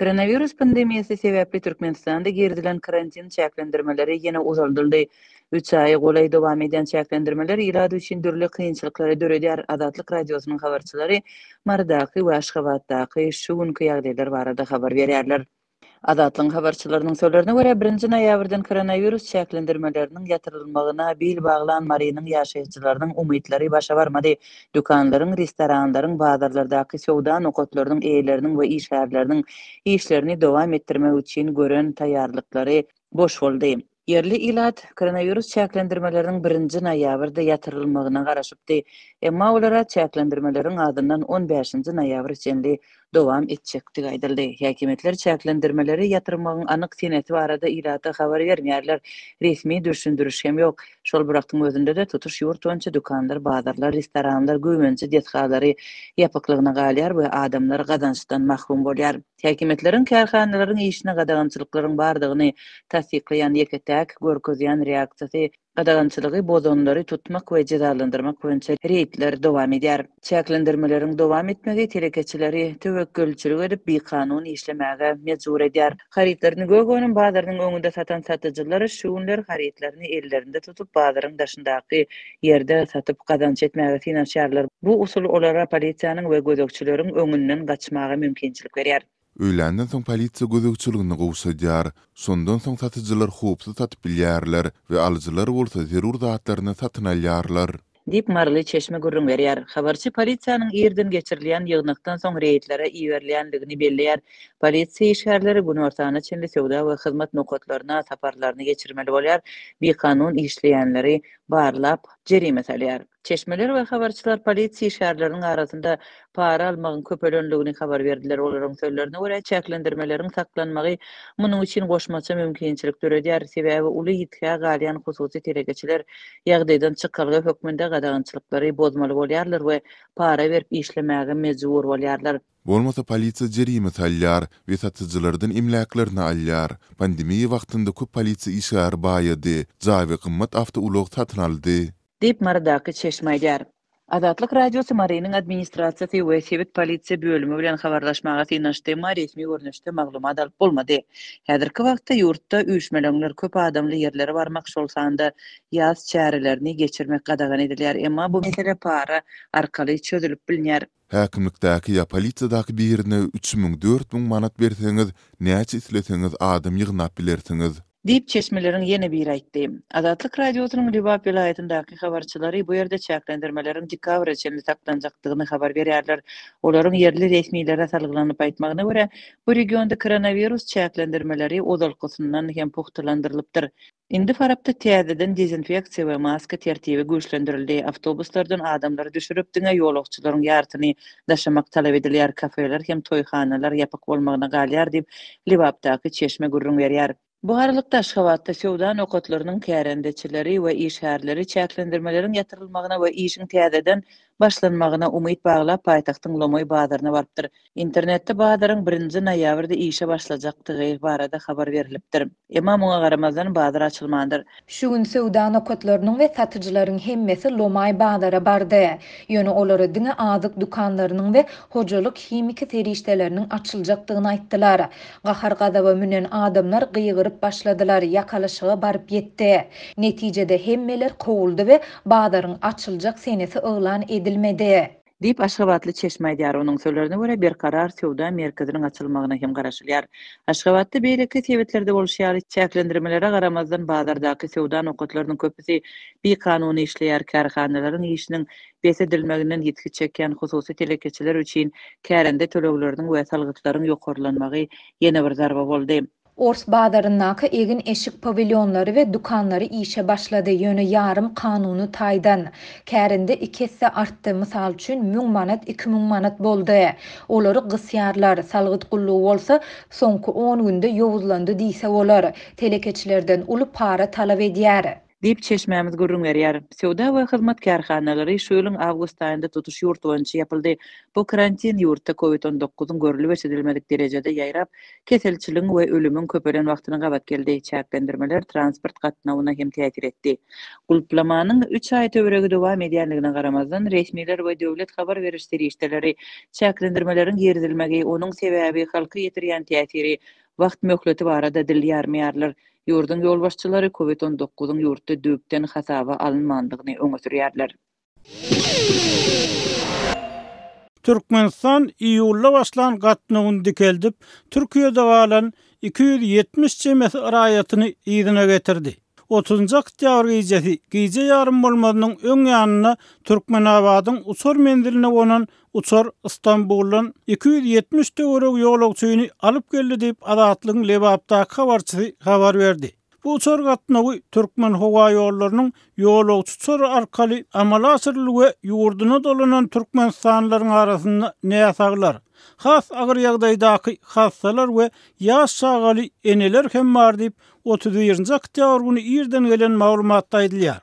Koronawirus pandemiýasy sebäpli Türkmenistanda girizilen karantin çäklendirmeleri ýene uzaldyldy. Üç aýa golaý dowam edýän çäklendirmeler ilat üçin dürli kynçylyklary döredýär. Azatlyk Radiosynyň habarçylary Marydaky we Aşgabatdaky şu günki ýagdaýlar barada habar berýärler. Azatlygyň habarçylarynyň sözlerine görä, birinji noýabrdan koronawirus çäklendirmeleriniň ýatyrylmagyna bil baglan Marynyň ýaşaýjylarynyň umytlary başa barmady. Dükanlaryň, restoranlaryň, bazarlardaky söwda nokatlarynyň eýeleriniň we işgärleriniň işlerini dowam etdirmek üçin gören taýýarlyklary boş boldy. Ýerli ilat koronawirus çäklendirmeleriniň birinji noýabrda ýatyrylmagyna garaşypdy, emma olara çäklendirmeleriň azyndan on bäşinji noýabra çenli dowam etjekdigi aýdyldy. Häkimiýetler çäklendirmeleri ýatyrmagyň anyk senesi barada ilata habar bermeýärler, resmi dürşündiriş hem ýok. Şol bir wagtyň özünde-de, tutuş ýurt boýunça dükanlar, bazarlar, restoranlar, güwünji desgalary ýapyklygyna galýar we adamlar gazançdan mahrum bolýar. Häkimiýetleriň kärhanalaryň işine gadagançylyklaryň bardygyny tassyklaýan ýeke-täk görkezýän reaksiýasy, Gadagançylygy bozanlary tutmak we jezalandyrmak boýunça reýdler dowam edýär. Çäklendirmeleriň dowam etmegi telekeçileri töwekgelçilik edip, bikanun işlemäge mejbur edýär. Harytlaryny Gögöniň bazarynyň öňünde satan satyjylar şu günler harytlaryny ellerinde tutup, bazaryň daşyndaky ýerde satyp, gazanç etmäge synanyşýarlar. Bu usul olara polisiýanyň we gözegçileriň öňünden gaçmaga mümkinçilik berýär. Öýländen soň polisiýa gözegçiligini gowşadýar. Şondan soň satyjylar howpsuz satyp bilýärler we alyjylar bolsa zerur zatlaryny satyn alýarlar. Diýip, maryly çeşme gürrüň berýär. Habarçy polisiýanyň irden geçirilýän ýygnakdan soň reýdlere iberilýändigini belleýär. Polisiýa işgärleri günortana çenli söwda we hyzmat nokatlaryna saparlaryny geçirmeli bolýar, bikanun işleýänleri barlap, jerime salýar. Çeşmeler we habarçylar polisiýa işgärleriniň arasynda para almagyň köpelendigini habar berdiler. Olaryň sözlerine görä, çäklendirmeleriň saklanmagy munuň üçin goşmaça mümkinçilik döredýär, sebäbi uly ýitgä galýan hususy telekeçiler ýagdaýdan çykalga hökmünde gadagançylyklary bozmaly bolýarlar we para berip işlemäge mejbur bolýarlar. Bolmasa polisiýa jerime salýar we satyjylardan emläklerini alýar. Pandemiýa wagtynda köp polisiýa işgäri baýady, jaý we gymmat awtoulag satyn aldy. diýip, Marydaky çeşme aýdýar. Azatlyk Radiosy Marynyň administrasiýasy we sebit polisiýa bölümi bilen habarlaşmaga synanyşdy, emma resmi görnüşde maglumat alyp bolmady. Häzirki wagtda ýurtda üýşmeleňler, köp adamly ýerlere barmak, şol sanda ýas çärelerini geçirmek gadagan edilýär, emma bu mesele para arkaly çözülip bilner. Häkimlikdäki ýa polisiýadaky birine üç müň, dört müň manat berseňiz, näçe isleseňiz adam ýygnap bilersiňiz. Diýip, çeşmeleriň ýene biri aýtdy. Azatlyk Radiosynyň Lebap welaýatyndaky habarçylary bu ýerde çäklendirmeleriň dekabra çenli saklanjakdygyny habar berýärler. Olaryň ýerli resmilere salgylanyp aýtmagyna görä, bu regionda koronawirus çäklendirmeleri ozalkysyndan hem pugtalandyrylypdyr. Indi Farapda täzeden dezinfeksiýa we maska tertibi güýçlendirildi, awtobuslardan adamlary düşürip, diňe ýolagçylaryň ýarsyny daşamak talap edilýär, kafeler hem toýhanalar ýapyk bolmagyna galýar diýip, Lebapdaky çeşme gürrüň berýär. Bu aralykda, Aşgabatda söwda nokatlarynyň kärendeçileri we işgärleri çäklendirmeleriň ýatyrylmagyna we işiň täzeden başlanmagyna umyt baglap, paýtagtyň lomaý bazaryna barypdyr. Internetde bazaryň birinji noýabrda işe başlajakdygy barada habar berilipdir. Emma muňa garamazdan, bazar açylmandyr. Şu gün söwda nokatlarynyň we satyjylaryň hemmesi lomaý bazara bardy. Ýöne olara diňe azyk dükanlarynyň we hojalyk himiki serişdeleriniň açyljakdygyny aýtdylar. Gahar-gazaba münen adamlar gygyryp başladylar, ýakalaşyga baryp ýetdi. Netijede hemmeler kowuldy we Bazaryň açyljak senesi yglan edilmedi. Diýip, aşgabatly çeşme aýdýar. Onuň sözlerine görä, Berkarar söwda merkeziniň açylmagyna hem garaşylýar. Aşgabatda beýleki sebitlerde bolşy ýaly, çäklendirmelere garamazdan, bazardaky söwda nokatlarynyň köpüsi bikanuny işleýär. Kärhanalaryň işiniň bes edilmeginden ýitgi çekýän hususy telekeçiler üçin kärende tölegleriniň we salgytlaryň ýokarlanmagy ýene bir zarba boldy. Ors bazaryndaky egin-eşik pawilýonlary we dükanlary işe başlady, ýöne ýarym kanuny taýdan. Kärende iki esse artdy, mysal üçin, müň manat iki müň manat boldy. Olary gysýarlar, salgyt gullugy bolsa soňky on günde ýowuzlandy diýse bolar, telekeçilerden uly para talap edýär. diýip, çeşmämiz gürrüň berýär. Söwda we hyzmat kärhanalary şu ýylyň awgust aýynda tutuş ýurt boýunça ýapyldy. Bu karantin ýurtda Covid on dokuz-yň görülip-eşidilmedik derejede ýaýrap, keselçiligiň we ölümiň köpelen wagtyna gabat geldi. Çäklendirmeler transport gatnawyna hem täsir etdi. Gulplamanyň üç aý töweregi dowam edýändigine garamazdan, resmiler we döwlet habar beriş serişdeleri çäklendirmeleriň girizilmegi, onuň sebäbi, halka ýetirýän täsiri, wagt möhleti barada dil ýarmaýarlar. Ýurduň ýolbaşçylary Covid on dokuzyň ýurtda düýpden hasaba alynmandygyny öňe sürýärler. Türkmenistan iýulda başlan gatnawyny dikeldip, Türkiýede galan iki ýüz ýetmiş çemesi raýatyny yzyna getirdi. Otuzynjy oktýabr gijesi gije ýarym bolmazynyň öň ýanynda Türkmenabadyň uçar menziline gonan Uçar Stambuldan iki ýüz ýetmiş töweregi ýolagçyny alyp geldi diýip, Azatlygyň Lebapdaky habarçysy habar berdi. Bu uçar gatnawy Türkmenhowaýollarynyň ýolagçy uçary arkaly amala aşyryldy we ýurduna dolanan türkmenistanlylaryň arasynda näsaglar, has agyr ýagdaýdaky hassalar we ýaş çagaly eneler hem bar diýip, otuz birinji oktýabr güni irden gelen maglumatda aýdylýar.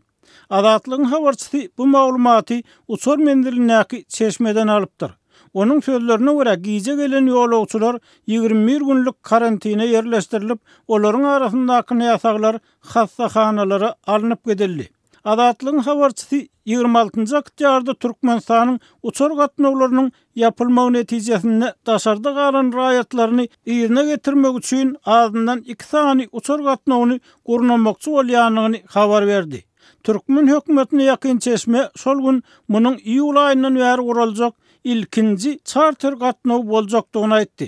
Azatlygyň habarçysy bu maglumaty uçar menzilindäki çeşmeden alypdyr. Onuň sözlerine görä, gijä gelen ýolagçylar ýigrimi bir günlük karantine ýerleşdirilip, olaryň arasyndaky näsaglar hassahanalara alnyp gidildi. Azatlygyň habarçysy ýigrimi altynjy oktýarda Türkmenistanyň uçar gatnawlarynyň ýapylmagy netijesinde daşarda galan raýatlaryny yzyna getirmek üçin azyndan iki sany uçar gatnawyny gurnamakçy bolýandygyny habar berdi. Türkmen hökümetine ýakyn çeşme şol gün munuň iýul aýyndan bäri guraljak ilkinji çarter gatnawy boljakdygyny aýtdy.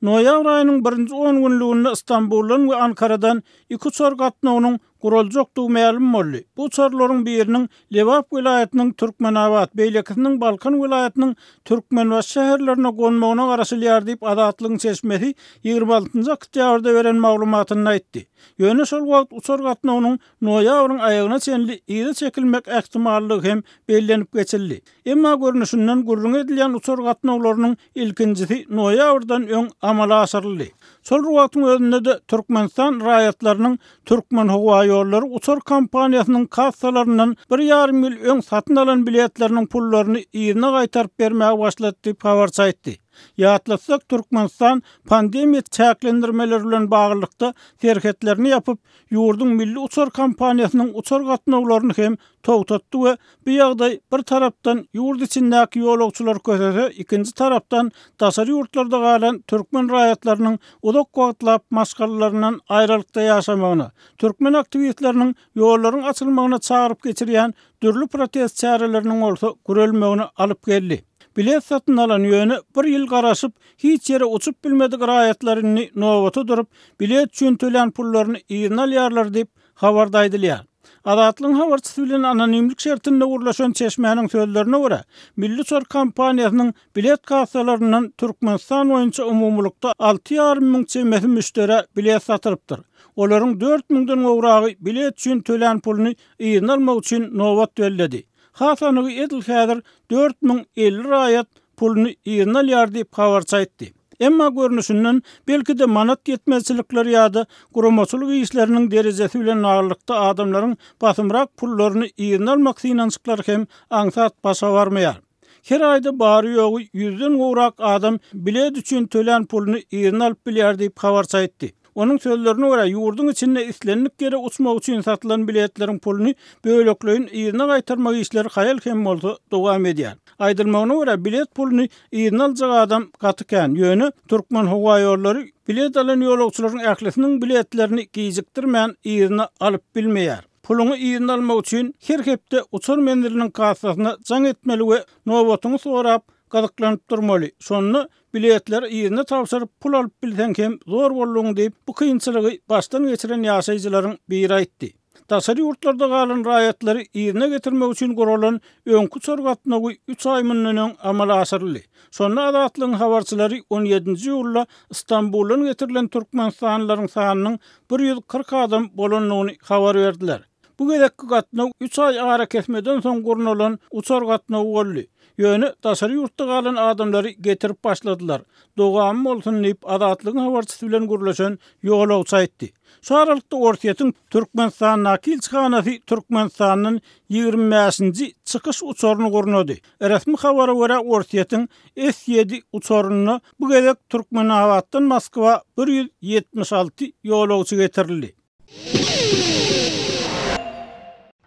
Noýabr aýynyň birinji on günlüginde Stambuldan we Ankaradan iki uçar gatnawynyň guraljakdygy mälim boldy. Bu uçarlaryň biriniň Lebap welaýatynyň Türkmenabat, beýlekisiniň Balkan welaýatynyň Türkmenbaşy şäherlerine gonmagyna garaşylýar diýip, Azatlygyň çeşmesi ýigrimi altynjy oktýabrda beren maglumatynda aýtdy. Ýöne şol wagt uçar gatnawynyň noýabryň aýagyna çenli yza çekilmek ähtimallygy hem bellenip geçildi. Emma görnüşinden gürrüňi edilýän uçar gatnawlarynyň ilkinjisi noýabrdan öň amala aşyryldy. Şol bir wagtyň özünde-de Türkmenistan raýatlarynyň Türkmenhowaýollary uçar kompaniýasynyň kassalaryndan bir ýarym ýyl öň satyn alan biletleriniň pullaryny yzyna gaýtaryp bermäge başlady diýip habarçy aýtdy. Ýatlatsak, Türkmenistan pandemiýa çäklendirmeleri bilen baglylykda serhetlerini ýapyp, ýurduň milli uçar kompaniýasynyň uçar gatnawlaryny hem togtatdy we bu ýagdaý bir tarapdan ýurt içindäki ýolagçylary kösese, ikinji tarapdan daşary ýurtlarda galan türkmen raýatlarynyň uzak wagtlap maşgalalaryndan aýralykda ýaşamagyna, türkmen aktiwistleriniň ýollaryň açylmagyna çagyryp geçirýän Dürli protest çäreleriniň bolsa gürelmegine alyp geldi. Bilet satyn alan, ýöne bir ýyl garaşyp, hiç ýere uçup bilmedik raýatlar indi nobata durup, bilet üçin tölän pullaryny yzyna alýarlar diýip, habarda aýdylýar. Azatlygyň habarçysy bilen anonimlik şertinde gürleşen çeşmäniň sözlerine görä, Milli uçar kompaniýasynyň bilet kassalaryndan Türkmenistan boýunça umumylykda alty ýarym müň çemesi müşderä bilet satylypdyr. Olaryň dört müňden gowragy bilet üçin tölän puluny yzyna almak üçin nobat belledi. Has anygy edil häzir dört müň elli raýat puluny yzyna alýar diýip habarçy aýtdy. Emma görnüşinden belki-de manat ýetmezçilikleri ýa-da guramaçylyk işleriniň derejesi bilen baglylykda adamlaryň basymrak pullaryny yzyna almak synanyşyklary hem aňsat başa barmaýar. Her aýda bary-ýogy ýüzden gowrak adam bilet üçin tölän puluny yzyna alyp bilýär diýip, habarçy aýtdy. Onuň sözlerine görä, ýurduň içinde islendik ýere uçmak üçin satylan biletleriň puluny bölekleýin yzyna gaýtarmak işleri haýal hem bolsa dowam edýär. Aýdylmagyna görä, bilet puluny yzyna aljak adam gaty kän, ýöne Türkmenhowaýollary bilet alan ýolagçylaryň ählisiniň biletlerini gijikdirmän yzyna alyp bilmeýär. Puluňy yzyna almak üçin her hepde uçar menziliniň kassasyna jaň etmeli we nobatyňy sorap, gyzyklanyp durmaly. Şonda biletleri yzyna tabşyryp, pul alyp bilseň hem zor bolduň diýip, bu kynçylygy başdan geçiren ýaşaýjylaryň biri aýtdy. Daşary ýurtlarda galan raýatlary yzyna getirmek üçin guralan öňki uçar gatnawy üç aý mundan öň amala aşyryldy. Şonda Azatlygyň habarçylary on ýedinji iýulda Stambuldan getirilen türkmenistanlylaryň sanynyň bir ýüz kyrk adam bolandygyny habar berdiler. Bu gezekki gatnaw üç aý arakesmeden soň gurnalan uçar gatnawy boldy. Ýöne daşary ýurtda galan adamlary getirip başladylar. Dowamy bolsun diýip, Azatlygyň habarçysy bilen gürleşen ýolagçy aýtdy. Şu aralykda Orsýetiň Türkmenistandaky ilçihanasy Türkmenistandan ýigrimi bäşinji çykyş uçaryny gurnady. Resmi habara görä, Orsýetiň S-ýedi uçarynda bu gezek Türkmenabatdan Moskwa bir ýüz ýetmiş alty ýolagçy getirildi.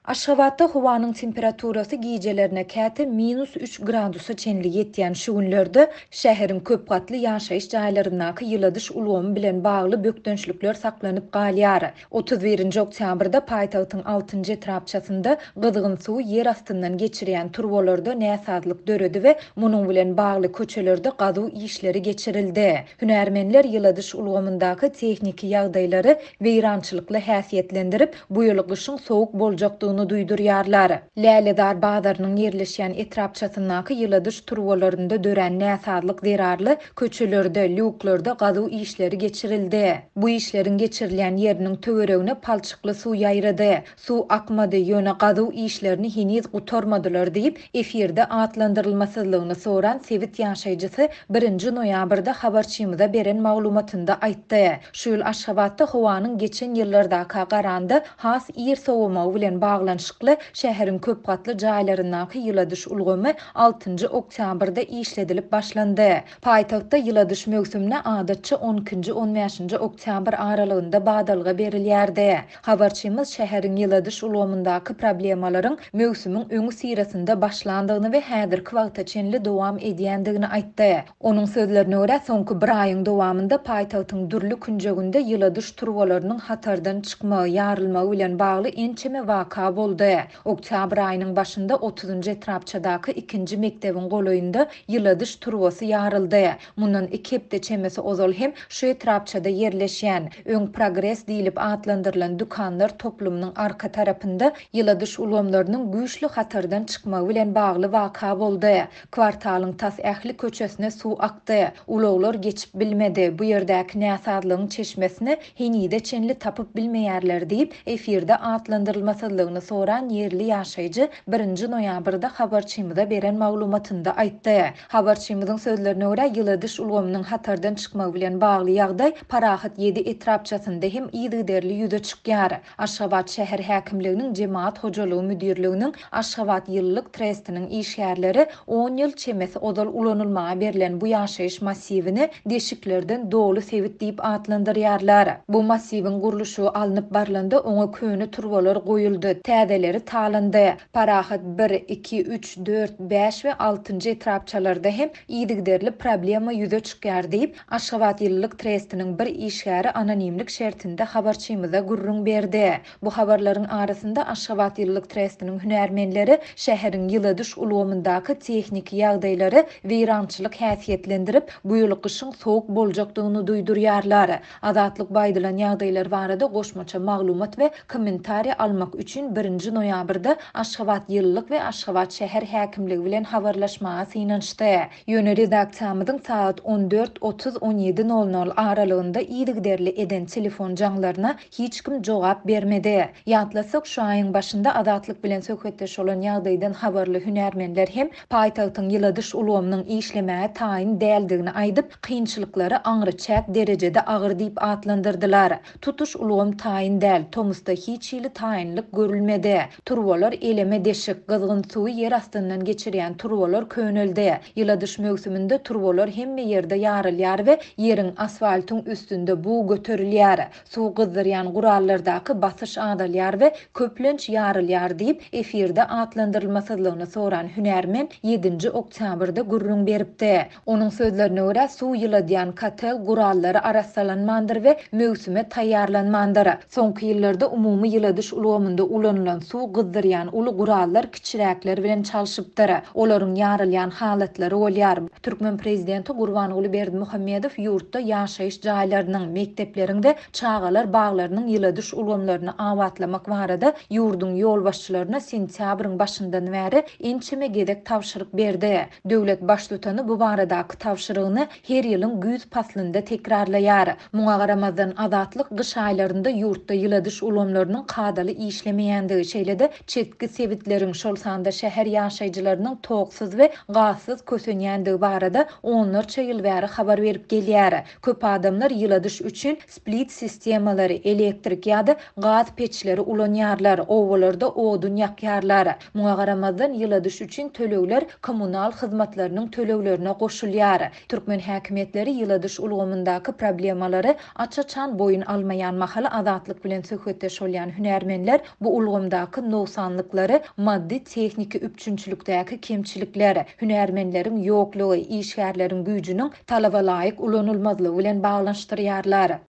Aşgabatda howanyň temperaturasy gijelerine käte minus üç gradusa çenli ýetýän şu günlerde şäheriň köp gatly ýaşaýyş jaýlaryndaky ýyladyş ulgamy bilen bagly bökdençlikler saklanyp galýar. Otuz birinji oktýabrda paýtagtyň altynjy etrapçasynda gyzgyn suwy ýer astyndan geçirýän turbalarda näsazlyk döredi we munuň bilen bagly köçelerde gazuw işleri geçirildi. Hünärmenler ýyladyş ulgamyndaky tehniki ýagdaýlary weýrançylykly häsiýetlendirip, bu ýyl gyşyň sowuk boljakdygyny duýdurýarlar. Lälezar bazarynyň ýerleşýän etrapçasyndaky ýyladyş turbalarynda dörän näsazlyk zerarly Köçelerde, lýuklarda gazuw işleri geçirildi. Bu işleriň geçirilýän ýeriniň töweregine palçykly suw ýaýrady. Suw akmady, ýöne gazuw işlerini heniz gutarmadylar diýip, efirde atlandyrylmasyzlygyny soran sebit ýaşaýjysy birinji noýabrda habarçymyza beren maglumatynda aýtdy. Şu ýyl Aşgabatda howanyň geçen ýyllardaka garanda has ir sowamagy bilen baglanyşykly, şäheriň köp gatly jaýlaryndaky ýyladyş ulgamy altynjy oktýabrda işledilip başlandy. Paýtagtda ýyladyş möwsümine adatça on ikinji, on bäşinji oktýabr aralygynda badalga berilýärdi. Habarçymyz şäheriň ýyladyş ulgamyndaky problemalaryň möwsümiň öňüsyrasynda başlandygyny we häzirki wagta çenli dowam edýändigini aýtdy. Onuň sözlerine görä, soňky bir aýyň dowamynda paýtagtyň dürli künjeginde ýyladyş turbalarynyň hatardan çykmagy, ýarylmagy bilen bagly ençeme waka boldy. Oktýabr aýynyň başynda otuzynjy etrapçadaky ikinji mekdebiň golaýynda ýyladyş turbasy ýaryldy. Mundan iki hepde çemesi ozal hem şu etrapçada ýerleşýän, öň Progres diýlip atlandyrylan dükanlar toplumynyň arka tarapynda ýyladyş ulgamlarynyň güýçli hatardan çykmagy bilen bagly waka boldy. Kwartalyň tas ähli köçesine suw akdy. Ulaglar geçip bilmedi, bu ýerdäki näsazlygyň çeşmesini henize çenli tapyp bilmeýärler diýip, efirde atlandyrylmasyzlygyny soran ýerli ýaşaýjy birinji noýabrda habarçymyza beren maglumatynda aýtdy. Habarçymyzyň sözlerine görä, ýyladyş ulgamynyň hatardan çykmagy bilen bagly ýagdaý Parahat ýedi etrapçasynda hem yzygiderli ýüze çykýar. Aşgabat şäher häkimliginiň Jemagat hojalygy müdirliginiň Aşgabat ýylylyk trestiniň işgärleri on ýyl çemesi ozal ulanylmaga berlen bu ýaşaýyş massiwini deşiklerden doly sebit diýip atlandyrýarlar. Bu massiwiň gurluşygy alnyp barlanda oňa köne turbalar goýuldy, täzeleri talandy. Parahat bir, iki, üç, dört, bäş we altynjy etrapçalarda hem yzygiderli problema ýüze çykýar diýip, Aşgabat ýylylyk trestiniň bir işgäri anonimlik şertinde habarçymyza gürrüň berdi. Bu habarlaryň arasynda Aşgabat ýylylyk trestiniň hünärmenleri şäheriň ýyladyş ulgamyndaky tehniki ýagdaýlary weýrançylyk häsiýetlendirip, bu ýyl gyşyň sowuk boljakdygyny duýdurýarlar. Azatlyk bu aýdylan ýagdaýlar barada goşmaça maglumat we kommentariý almak üçin birinji noýabrda Aşgabat ýylylyk we Aşgabat şäher häkimligi bilen habarlaşmaga synanyşdy. Ýöne redaksiýamyzyň sagat on dört otuz, on ýedi nol nol aralygynda yzygiderli eden telefon jaňlaryna hiç kim jogap bermedi. Ýatlasak, şu aýyň başynda Azatlyk bilen söhbetdeş bolan ýagdaýdan habarly hünärmenler hem paýtagtyň ýyladyş ulgamynyň işlemäge taýyn däldigini aýdyp, kynçylyklary aňryçäk derejede agyr diýip atlandyrdylar. Tutuş ulgam taýyn däl, tomusda hiç hili taýynlyk görülmedi. Turbalar eleme deşik, gyzgyn suwy ýer astyndan geçirýän turbalar köneldi. Ýyladyş möwsüminde turbalar hemme ýerde ýarylýar we ýeriň, asfaltyň üstünde bug göterilýär. Suw gyzdyrýan gurallardaky basyş azalýar we köplenç ýarylýar diýip, efirde atlandyrylmasyzlygyny soran hünärmen ýedinji oktýabrda gürrüň beripdi. Onuň sözlerine görä, suw ýyladýan kotel gurallary arassalanmandyr we möwsüme taýýarlanmandyr. Soňky ýyllarda umumy ýyladyş ulgamynda ulanylan suw gyzdyrýan uly gurallar kiçiräkler bilen çalşypdyr. Olaryň ýarylýan halatlary bolýar. Türkmen prezidenti Gurbanguly Berdimuhamedow ýurtda ýaşaýyş jaýlarynyň, mekdepleriň we çagalar baglarynyň ýyladyş ulgamlaryny abatlamak barada ýurduň ýolbaşçylaryna sentýabryň başyndan bäri ençeme gezek tabşyryk berdi. Döwlet Baştutany bu baradaky tabşyrygyny her ýylyň güýz paslynda tekrarlaýar. Muňa garamazdan, Azatlyk gyş aýlarynda ýurtda ýyladyş ulgamlarynyň kadaly işlemeýändigi, şeýle-de çetki sebitleriň, şol sanda şäher ýaşaýjylarynyň toksuz we gazsyz kösenýändigi barada onlarça ýyl bäri habar berip gelýär. Köp adamlar ýyladyş üçin split sistemalary, elektrik ýa-da gaz peçleri ulanýarlar, obalarda odun ýakýarlar. Muňa garamazdan, ýyladyş üçin tölegler kommunal hyzmatlarynyň töleglerine goşulýar. Türkmen häkimiýetleri ýyladyş ulgamyndaky problemalary aç-açan boýun almaýan mahaly Azatlyk bilen söhbetdeş bolýan hünärmenler bu ulgamdaky nogsanlyklary, maddy-tehniki üpjünçilikdäki kemçilikler, hünärmenleriň ýoklugy, işgärleriň güýjüniň talabalaýyk ulanylmazlygy bilen baglanyşdyrýarlar.